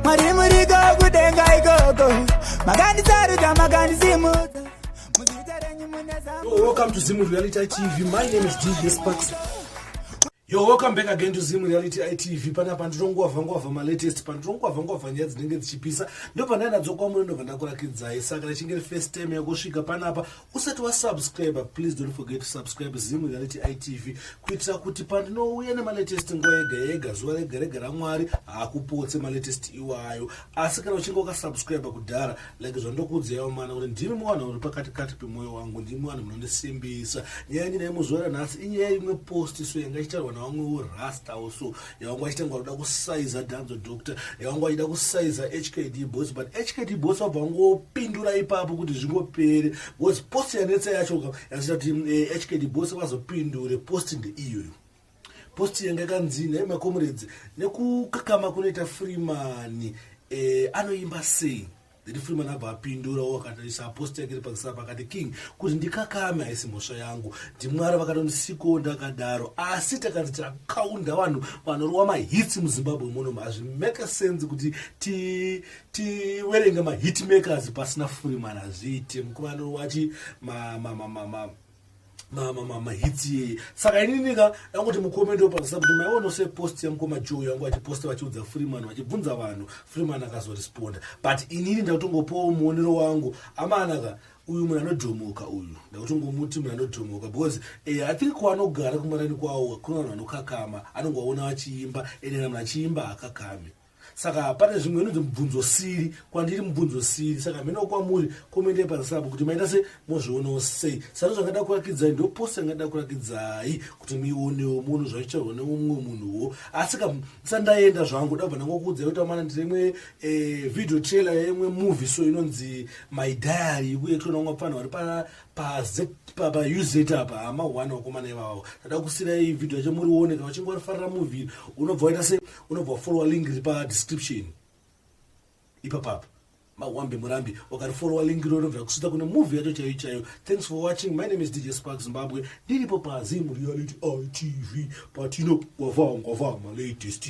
Mwari muriko kudenga ikoko makandisarudza makandisimudza muzita renyu mune Yo, welcome to Zim Reality TV. My name is DJ Sparks. Yo, welcome back again to Zim Reality TV. Pana pandinongwavha ngwavha ma latest, pandinongwavha ngwavha nyaya dzinenge dzichipisa. Ndipo pandanadzo kwamuri ndobva ndakurakidzai. Saka richinge first time yakusvika panapa usati wasubscriber please don't forget to subscribe zim reality itv kuitira kuti pandinouya nemalatest nguva yega yega zuva rega rega ramwari haakupotse malatest iwayo asi kana uchinge wakasubscriber kudhara like zvandokuudzaiwo mana kuti ndimi muvanhu uri pakati kati pemwoyo wangu ndimi vanhu munondisimbisa nyaya yangu naye muzuva ranhasi inyaya imwe post so yanga ichitaurwa navamwewo rasta also yawanga wachitanga kuda kusaiza dhanzo doctor yawanga wachida kusaiza hkd boss but hkd boss wabva wangopindura ipapo kuti zvingopere bcause post yanetsa yacho yazoita kuti hkd eh, boss vazopindure post ndeiyoyo post yanga yakanzi nhai makomuredzi nekukakama kunoita freemani eh, anoimba sei Then Freeman abva apindurawo akatarisa apostle yake iri pakisara pakati king kuti ndikakame haisi mhosva yangu ndimwari vakatondisiko ndakadaro asi takati takaunda vanhu vanorova mahitsi muzimbabwe muno hazvimake sense kuti tiverenge ti, mahitmakers pasina Freeman hazviite mukuru anorovachi ma, ma, ma, ma, ma, ma mama mama hitsi yeye saka ininika yanguti mukome ndopanzisa kuti maiona se post yamukoma joe yangu vachiposta vachiudza freeman vachibvunza vanhu freeman akazoresponda but inini ndakutongopawo muonero wangu amanaka uyu munhu anodhomoka uyu ndakutongomuti munhu anodhomoka because eh, i think kwaanogara kumarani kwawo kuno vanhu vanokakama anongovaona vachiimba ende kana munhu achiimba hakakame saka pane zvimwe inonzi mubvunzo siri kwandiri mubvunzo siri saka hamenowo kwamuri komende pazisapo kuti maita se mozvionawo sei sano zvangada kurakidzai ndo post yangada kurakidzai kuti mionewo munhu zvaichairwa neumwe munhuwo asi ka sandaenda zvangu dabva ndangokuudzai kuti amana ndiri imwe eh, video trailer yeimwe movie so inonzi my diary uye tinoona umwe pfanha vari pauzet apa hama one wakomana ivavo tada kusirai vhidhio yacho murione kana uchinge warifarira movie unobva waita se unobva wafollowa link iri padescription ipapapa mawambe murambi wakarifolowa link iro unobva kusuta kune movie yacho chaiyo chaiyo thanks for watching my name is dj spark zimbabwe ndiripo pazim reality itv patino gwavangwavanga latest